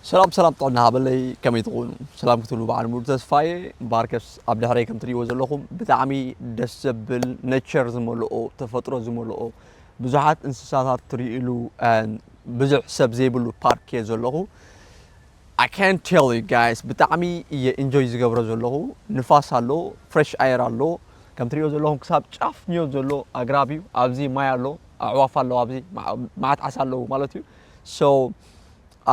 ሰላም ሰላም ጥዕና ሃበለይ ከመይ ትኾኑ ሰላም ክትብሉ በዓል ሙሉ ተስፋ እየ እምበኣርከስ ኣብ ድሕረይ ከም ትሪእዎ ዘለኹም ብጣዕሚ ደስ ዘብል ነቸር ዝመልኦ ተፈጥሮ ዝመልኦ ብዙሓት እንስሳታት ትርእሉ ብዙሕ ሰብ ዘይብሉ ፓርክ እየ ዘለኹ I can't tell you guys ብጣዕሚ እየ ኢንጆይ ዝገብሮ ዘለኹ ንፋስ ኣሎ ፍሬሽ ኣየር ኣሎ ከም ትሪእዎ ዘለኹም ክሳብ ጫፍ ንዮ ዘሎ ኣግራብ እዩ ኣብዚ ማይ ኣሎ ኣዕዋፍ ኣለዋ ኣብዚ ማዓት ዓሳ ኣለዉ ማለት እዩ so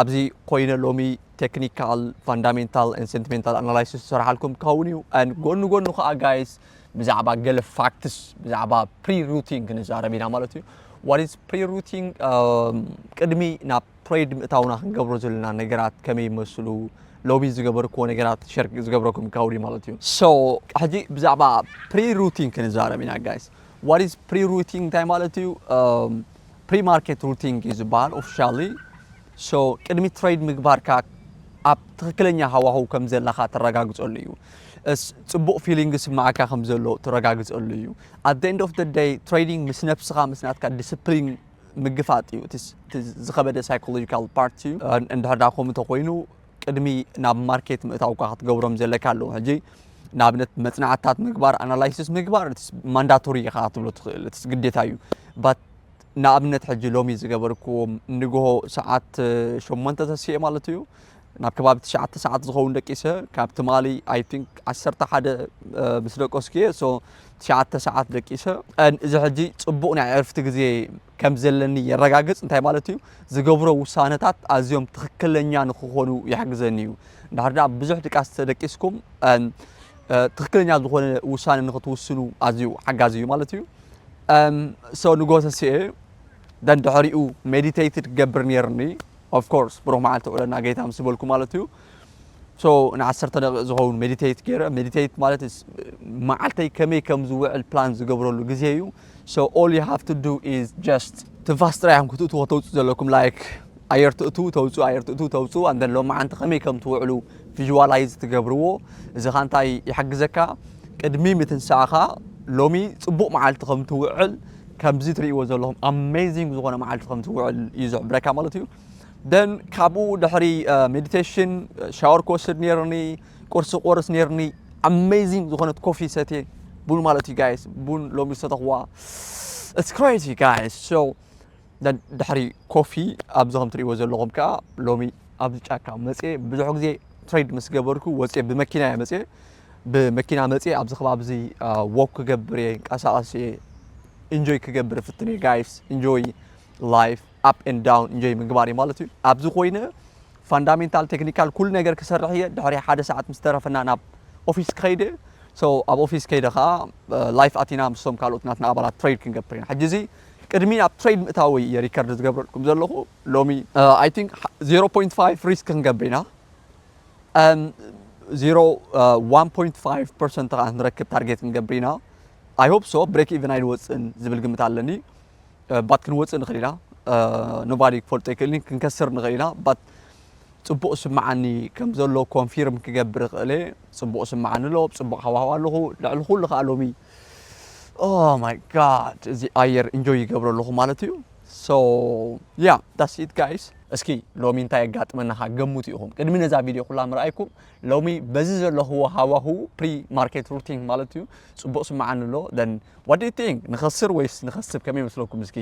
ኣብዚ ኮይነ ሎሚ ቴክኒካል ፋንዳሜንታል and ሴንቲሜንታል ኣናላይሲስ ዝሰርሓልኩም ክኸውን እዩ and ጎኑ ጎኑ ከዓ ጋይስ ብዛዕባ ገለ ፋክትስ ብዛዕባ ፕሪ ሩቲንግ ክንዛረብ ኢና ማለት እዩ what is pre-routing um, ቅድሚ ናብ ትሬድ ምእታውና ክንገብሮ ዘለና ነገራት ከመይ ይመስሉ ሎቢ ዝገበርክዎ ነገራት ሸር ዝገብረኩም ካውዲ ማለት እዩ ሶ ሕጂ ብዛዕባ ፕሪሩቲን ክንዛረብ ኢና ጋይስ What is pre-routing እንታይ ማለት እዩ? ፕሪማርኬት ሩቲንግ እዩ ዝበሃል ኦፊሻሊ ሶ ቅድሚ ትሬድ ምግባርካ ኣብ ትክክለኛ ሃዋህው ከም ዘለካ ተረጋግፀሉ እዩ ፅቡቅ ፊሊንግ ስማዓካ ከም ዘሎ ተረጋግፀሉ እዩ ኣብ the end of the day ትሬዲንግ ምስ ነብስካ ምስ ናትካ ዲስፕሊን ምግፋጥ እዩ እቲ ዝኸበደ ሳይኮሎጂካል ፓርቲ እዩ እንድሕር ዳ ከምኡ ተኮይኑ ቅድሚ ናብ ማርኬት ምእታውካ ክትገብሮም ዘለካ ኣለዉ ሕጂ ንኣብነት መጽናዕትታት ምግባር ኣናላይሲስ ምግባር ማንዳቶሪ ኢኻ ክትብሎ ትኽእል እቲ ግዴታ እዩ ባት ንኣብነት ሕጂ ሎሚ ዝገበርክዎም ንግሆ ሰዓት ሸሞንተ ተስኤ ማለት እዩ ናብ ከባቢ ትሽዓተ ሰዓት ዝኸውን ደቂሰ ካብ ትማሊ ኣይ ቲንክ ዓሰርተ ሓደ ምስ ደቀስኩ እየ ሶ ትሽዓተ ሰዓት ደቂሰ እዚ ሕጂ ፅቡቕ ናይ ዕርፍቲ ግዜ ከም ዘለኒ የረጋግጽ። እንታይ ማለት እዩ? ዝገብሮ ውሳነታት ኣዝዮም ትኽክለኛ ንክኾኑ ይሕግዘኒ እዩ። እንድሕር ደኣ ብዙሕ ድቃስ ተደቂስኩም ትኽክለኛ ዝኾነ ውሳነ ንክትውስኑ ኣዝዩ ሓጋዚ እዩ ማለት እዩ። ሰው ንጎተስኤ ደንድሕሪኡ ሜዲቴትድ ገብር ነርኒ ኦፍኮርስ ብሩክ መዓልቲ ውዕለና ጌታ ምስ በልኩ ማለት እዩ ሶ ንዓሰርተ ደቂቕ ዝኸውን ሜዲቴት ገይረ ሜዲቴት ማለት መዓልተይ ከመይ ከም ዝውዕል ፕላን ዝገብረሉ ግዜ እዩ so all you have to do is just ትንፋስ ጥራይ ኢኹም ክትእትዎ ተውፅኡ ዘለኩም ላይክ ኣየር ትእትው ተውፅኡ ኣየር ትእትው ተውፅኡ ኣንደን ሎማዓንቲ ከመይ ከም ትውዕሉ ቪዥዋላይዝ ትገብርዎ እዚ ኻ እንታይ ይሕግዘካ ቅድሚ ምትንሳእኻ ሎሚ ፅቡቕ መዓልቲ ከም ትውዕል ከምዚ ትርእይዎ ዘለኹም ኣሜዚንግ ዝኾነ መዓልቲ ከም ትውዕል እዩ ዝሕብረካ ማለት እዩ ደን ካብኡ ድሕሪ ሜዲቴሽን ሻወር ክወስድ ነይርኒ ቁርሲ ክቆርስ ነይርኒ ኣመይዚንግ ዝኾነት ኮፊ ሰትየ ቡን ማለት እዩ ጋይስ ቡን ሎሚ ዝሰተኽዋ ኢትስ ክሬዚ ጋይስ ሶ ድሕሪ ኮፊ ኣብዚ ከም ትሪእዎ ዘለኹም ከዓ ሎሚ ኣብዚ ጫካ መፅየ ብዙሕ ግዜ ትሬድ ምስ ገበርኩ ወፅየ ብመኪና እየ መፅየ ብመኪና መፅየ ኣብዚ ከባቢ እዚ ወክ ክገብር እየ ንቀሳቐስ እየ ኢንጆይ ክገብር ፍትን እየ ጋይስ ኢንጆይ ላይፍ ኣፕ ኤንድ ዳውን እንጆይ ምግባር እዩ ማለት እዩ ኣብዚ ኮይነ ፋንዳሜንታል ቴክኒካል ኩሉ ነገር ክሰርሕ እየ ድሕሪ ሓደ ሰዓት ምስ ተረፈና ናብ ኦፊስ ክኸይድ እየ ሶ ኣብ ኦፊስ ከይደ ከዓ ላይፍ ኣቲና ምስቶም ካልኦት ናትና ኣባላት ትሬድ ክንገብር ኢና ሕጂ እዚ ቅድሚ ናብ ትሬድ ምእታወይ እየ ሪከርድ ዝገብረልኩም ዘለኹ ሎሚ ኣይ ቲንክ 0.5 ሪስክ ክንገብር ኢና 1.5 ፐርሰንት ከዓ ክንረክብ ታርጌት ክንገብር ኢና ኣይ ሆፕ ሶ ብሬክ ኢቨን ኣይንወፅእን ዝብል ግምት ኣለኒ ባት ክንወጽእ ንኽእል ኢና ኖባዲ ክፈልጦ ኣይክእልን ክንከስር ንኽእል ኢና ባት ጽቡቕ ስምዓኒ ከም ዘሎ ኮንፊርም ክገብር ይኽእል ጽቡቕ ስምዓኒ ኣሎ ጽቡቕ ሃዋህው ኣለኹ ልዕሊ ኩሉ ከዓ ሎሚ ኦ ማይ ጋድ እዚ ኣየር እንጆይ ይገብሮ ኣለኹ ማለት እዩ ሶ ያ ዳስ ኢት ጋይስ እስኪ ሎሚ እንታይ የጋጥመናኻ ገምቱ ኢኹም ቅድሚ ነዛ ቪድዮ ኩላ ምርኣይኩም ሎሚ በዚ ዘለኹዎ ሃዋሁ ፕሪ ማርኬት ሩቲንግ ማለት እዩ ጽቡቕ ስምዓኒ ኣሎ then what do you think ንኸስር ወይስ ንኸስብ ከመይ ይመስለኩም እስኪ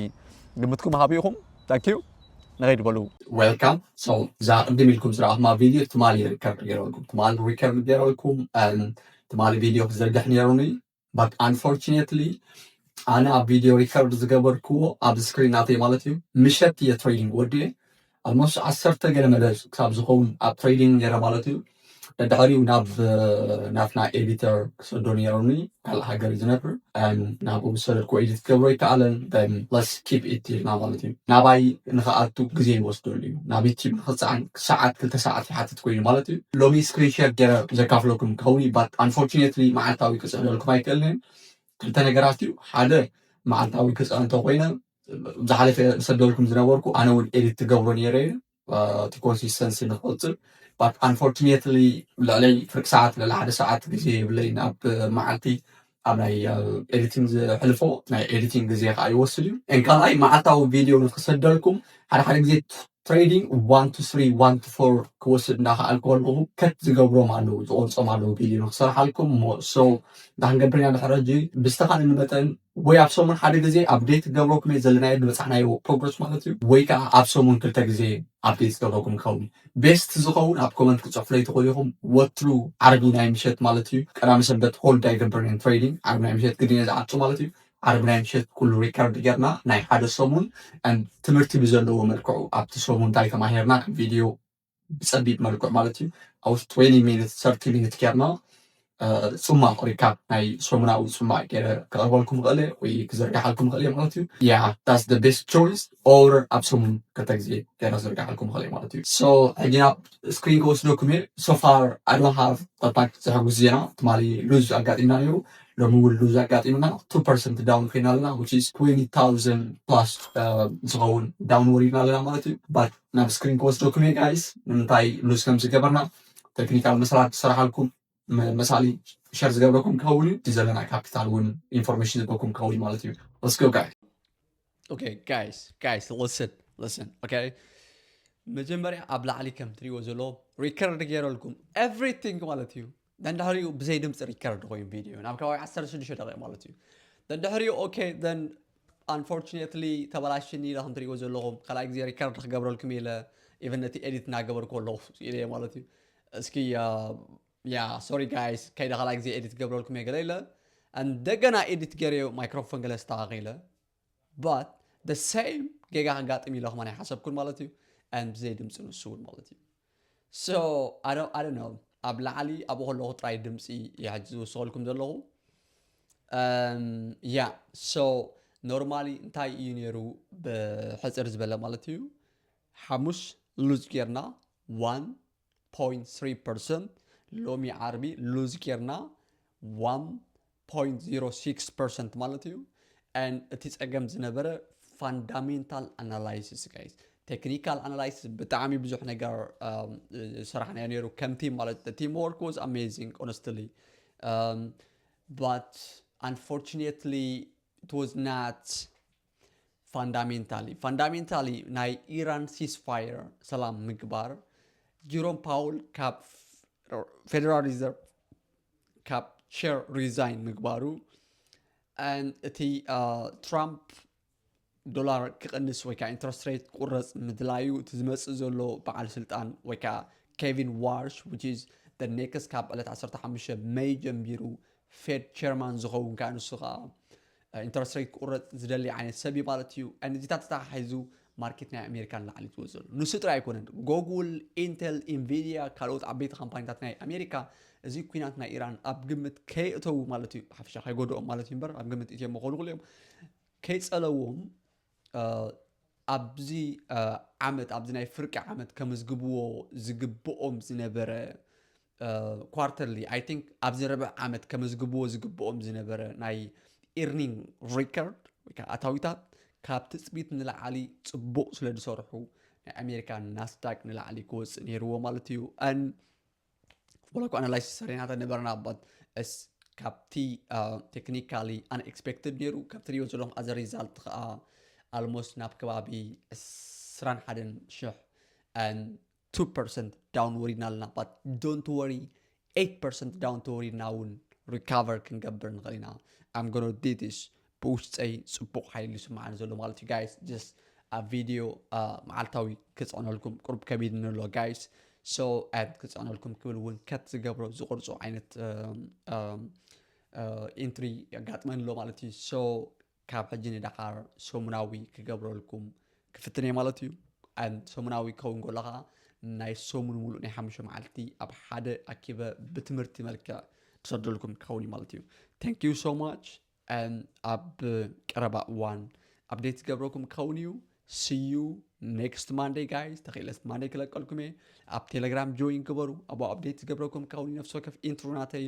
ግምትኩም ሃቡ ኢኹም thank you ንኸይድ በሉ ዌልካም ሶ እዛ ቅድም ኢልኩም ዝረኣኹማ ቪድዮ ትማሊ ሪከርድ ገይረልኩም ትማሊ ሪከርድ ገይረልኩም ትማሊ ቪድዮ ክዝርግሕ ነይሩኒ but unfortunately ኣነ ኣብ ቪድዮ ሪከርድ ዝገበርክዎ ኣብ ስክሪን ናተይ ማለት እዩ ምሸት እየ ትሬዲንግ ወዲኤ ኣልሞስት ዓሰርተ ገለ መደብ ክሳብ ዝኸውን ኣብ ትሬዲንግ ነረ ማለት እዩ ድሕሪኡ ናብ ናትና ኤዲተር ክሰዶ ነይሩኒ ካልእ ሃገር እዩ ዝነብር ናብኡ ምስ ሰደድኩ ኤዲት ክገብሮ ይከኣለን ለስ ኪፕ ኢት ኢልና ማለት እዩ ናባይ ንክኣቱ ግዜ ይወስደሉ እዩ ናብ ዩቲብ ንክፀዓን ሰዓት ክልተ ሰዓት ይሓትት ኮይኑ ማለት እዩ ሎሚ ስክሪን ሼር ገረ ዘካፍለኩም ክኸውን እዩ ባት ኣንፎርቹኔትሊ መዓልታዊ ክፅዕነልኩም ኣይክእልን እየ ክልተ ነገራት እዩ ሓደ መዓልታዊ ክፅዕን እንተኮይነ ዝሓለፈ ዝሰደልኩም ዝነበርኩ ኣነ እውን ኤዲት ትገብሮ ነይረ እየ እቲ ኮንሲስተንሲ ንክቕፅል ባት ኣንፎርቹኔትሊ ልዕለይ ፍርቂ ሰዓት ልዕሊ ሓደ ሰዓት ግዜ የብለይን ኣብ መዓልቲ ኣብ ናይ ኤዲቲንግ ዘሕልፎ ናይ ኤዲቲንግ ግዜ ከዓ ይወስድ እዩ ን ካልኣይ መዓልታዊ ቪድዮ ንክሰደልኩም ሓደ ሓደ ግዜ ትሬዲንግ ዋን ቱ ስሪ ዋን ቱ ፎር ክወስድ እንዳከኣል ከልኹ ከት ዝገብሮም ኣለዉ ዝቆርፆም ኣለዉ ቪድዮ ንክሰርሓልኩም እሞ ሰው እንታይ ክንገብር ኢና ድሕሪ ሕጂ ብዝተኻእለኒ መጠን ወይ ኣብ ሰሙን ሓደ ግዜ ኣብዴት ክገብረኩም እየ ዘለናዮ ዝበፃሕናዮ ፕሮግረስ ማለት እዩ ወይ ከዓ ኣብ ሰሙን ክልተ ግዜ ኣብዴት ዝገብረኩም ይኸውን እዩ ቤስት ዝኸውን ኣብ ኮመንት ክጽሕፉለይ ትኽእሉ ኢኹም ወትሩ ዓርቢ ናይ ምሸት ማለት እዩ ቀዳመ ሰንበት ሆልድ ኣይገብርን እየ ትሬዲንግ ዓርቢ ናይ ምሸት ግድን እየ ዝዓጹ ማለት እዩ ዓርቢ ናይ ምሸት ኩሉ ሪከርድ ጌርና ናይ ሓደ ሰሙን ትምህርቲ ብዘለዎ መልክዑ ኣብቲ ሰሙን እንታይ ተማሂርና ቪድዮ ብጸቢብ መልክዑ ማለት እዩ ኣብ ውሽጢ 20 ሚኒት ሰርቲ ሚኒት ጌርና ፅሟቕ ወይ ካዓ ናይ ሰሙናዊ ፅሟቕ ገይረ ከቕርበልኩም ይኽእል እየ ወይ ክዝርግሓልኩም ይኽእል እየ ማለት እዩ ያ ዳስ ዘ ቤስት ቾይስ ኦር ኣብ ሰሙን ክልተ ግዜ ገይረ ክዝርግሓልኩም ይኽእል እየ ማለት እዩ ሶ ሕጂ ናብ ስክሪን ክወስደኩም እየ ሶፋር ኣይ ዶንት ሃቭ ዛት ማች ዘሐጉስ ዜና ትማሊ ሉዝ ኣጋጢምና ነይሩ ሎሚ እውን ሉዝ ኣጋጢምና ቱ ፐርሰንት ዳውን ኮይና ኣለና ዊች ኢዝ ትዌንቲ ታውዘንድ ፕላስ ዝኸውን ዳውን ወሪድና ኣለና ማለት እዩ ባት ናብ ስክሪን ክወስደኩም እየ ጋይስ ንምንታይ ሉዝ ከም ዝገበርና ተክኒካል መሰላት ዝሰራሓልኩም መሳሊ ሸር ዝገብረኩም ክኸውን እዩ ዘለና ካፒታል እውን ኢንፎርሜሽን ዝበኩም ክኸውን እዩ ማለት እዩ ስ ጋይ ኦኬ ጋይስ ጋይስ ልስን ልስን ኦኬ መጀመርያ ኣብ ላዕሊ ከም ትሪዎ ዘሎ ሪከርድ ገይረልኩም ኤቭሪቲንግ ማለት እዩ ደንድሕሪኡ ብዘይ ድምፂ ሪከርድ ኮይኑ ቪድዮ ናብ ከባቢ 16 ደቂቕ ማለት እዩ ደንድሕሪኡ ኦኬ Unfortunately ተበላሽኒ ኢለ ከም ትሪእዎ ዘለኹም ካልኣይ ግዜ ሪከርድ ክገብረልኩም ኢለ ኢቨን ነቲ ኤዲት እናገበርኩ ኣለኹ ኢለ ማለት እዩ እስኪ ያ ሶሪ ጋይስ ከይደ ካልኣይ ግዜ ኤዲት ክገብረልኩም እየ ገለ ኢለ እንደገና ኤዲት ገይረዮ ማይክሮፎን ገለ ኣስተኻኺለ ባት ደ ሰይም ጌጋ ከጋጥም ኢለ ከማን ኣይሓሰብኩን ማለት እዩ ኣን ብዘይ ድምፂ ንሱ እውን ማለት እዩ So I don't I don't know ኣብ ላዕሊ ኣብኡ ከለኹ ጥራይ ድምጺ እየ ሕጂ ዝውስኸልኩም ዘለኹ ያ ሶ ኖርማሊ እንታይ እዩ ነይሩ ብሕፅር ዝበለ ማለት እዩ ሓሙሽ ሉዝ ጌርና 1.3 ፐርሰንት ሎሚ ዓርቢ ሉዝ ጌርና ፖይንት ዜሮ ሲክስ ፐርሰንት ማለት እዩ and እቲ ጸገም ዝነበረ ፋንዳሜንታል ኣናላይሲስ ጋይስ ቴክኒካል ኣናላይሲስ ብጣዕሚ ብዙሕ ነገር ሰራሕናዮ ነይሩ ከም ቲም ማለት ቲም ወርክ ዋዝ ኣሜዚንግ ኦነስትሊ ባት ኣንፎርቹኔትሊ it was not ፋንዳሜንታሊ ፋንዳሜንታሊ ናይ ኢራን ሲስፋየር ሰላም ምግባር ጂሮም ፓውል ካብ ፌደራል ሪዘርቭ ካብ ቸር ሪዛይን ምግባሩ እቲ ትራምፕ ዶላር ክቕንስ ወይ ከዓ ኢንትረስት ሬት ክቁረፅ ምድላዩ እቲ ዝመፅእ ዘሎ በዓል ስልጣን ወይ ከዓ ኬቪን ዋርሽ ዊች ኢዝ ደ ኔክስት ካብ ዕለት 15 መይ ጀምቢሩ ፌድ ቸርማን ዝኸውን ከዓ ንሱ ከዓ ኢንተረስት ሬት ክቁረፅ ዝደሊ ዓይነት ሰብ እዩ ማለት እዩ። ነዚታት ተተሓሒዙ ማርኬት ናይ ኣሜሪካ ንላዕሊ ዝወፅ ዘሎ ንሱ ጥራይ ኣይኮነን። ጎጉል፣ ኢንተል፣ ኢንቪድያ ካልኦት ዓበይቲ ካምፓኒታት ናይ ኣሜሪካ እዚ ኩናት ናይ ኢራን ኣብ ግምት ከየእተዉ ማለት እዩ ብሓፈሻ ከይጎድኦም ማለት እዩ እምበር ኣብ ግምት እትዮም ክኾኑ ክሉ እዮም ከይፀለዎም ኣብዚ ዓመት ኣብዚ ናይ ፍርቂ ዓመት ከመዝግብዎ ዝግብኦም ዝነበረ ኳርተርሊ ኣይ ቲንክ ኣብዚ ርብዕ ዓመት ከመዝግብዎ ዝግብኦም ዝነበረ ናይ ኢርኒንግ ሪከርድ ወይ ከዓ ኣታዊታት ካብ ትፅቢት ንላዕሊ ፅቡቕ ስለ ዝሰርሑ ናይ ኣሜሪካ ናስዳቅ ንላዕሊ ክወፅእ ነይርዎ ማለት እዩ ኣን ወላኳ ኣናላይሲስ ሰሪናተ ነበርና ባት እስ ካብቲ ቴክኒካሊ ኣንኤክስፔክትድ ነይሩ ካብቲ ሪዮ ዘለኹም ኣዘ ሪዛልት ከዓ ኣልሞስት ናብ ከባቢ ዕስራን ሓደን ሽሕ ቱ ፐርሰንት ዳውን ወሪድና ኣለና ባት ዶንት ወሪ ኤይት ፐርሰንት ዳውን ተወሪድና እውን ሪካቨር ክንገብር ንኽእል ኢና ኣም ጎኖ ዲ ዲስ ብውሽጠይ ፅቡቕ ሓይሊ ይስምዓኒ ዘሎ ማለት እዩ ጋይስ ጀስት ኣብ ቪድዮ መዓልታዊ ክፅዕነልኩም ቁርብ ከቢድኒ ኣሎ ጋይስ ሶ ኣድ ክፅዕነልኩም ክብል እውን ከት ዝገብሮ ዝቕርፆ ዓይነት ኢንትሪ የጋጥመኒ ኣሎ ማለት እዩ ሶ ካብ ሕጂ ንዳሓር ሰሙናዊ ክገብረልኩም ክፍትን'የ ማለት እዩ። ሰሙናዊ ክኸውን ከሎ ከኣ ናይ ሰሙን ሙሉእ ናይ ሓሙሽተ መዓልቲ ኣብ ሓደ ኣኪበ ብትምህርቲ መልክዕ ክሰደልኩም ክኸውን እዩ ማለት እዩ። Thank you so much and ኣብ ቀረባ እዋን ኣብዴት ዝገብረኩም ክኸውን እዩ። See you next Monday guys ተኽኢለስ ማንዴይ ክለቀልኩም እየ። ኣብ ቴሌግራም ጆይን ግበሩ ኣብኡ ኣብዴት ዝገብረኩም ክኸውን እዩ ነፍሲ ወከፍ ኢንትሮ ናተይ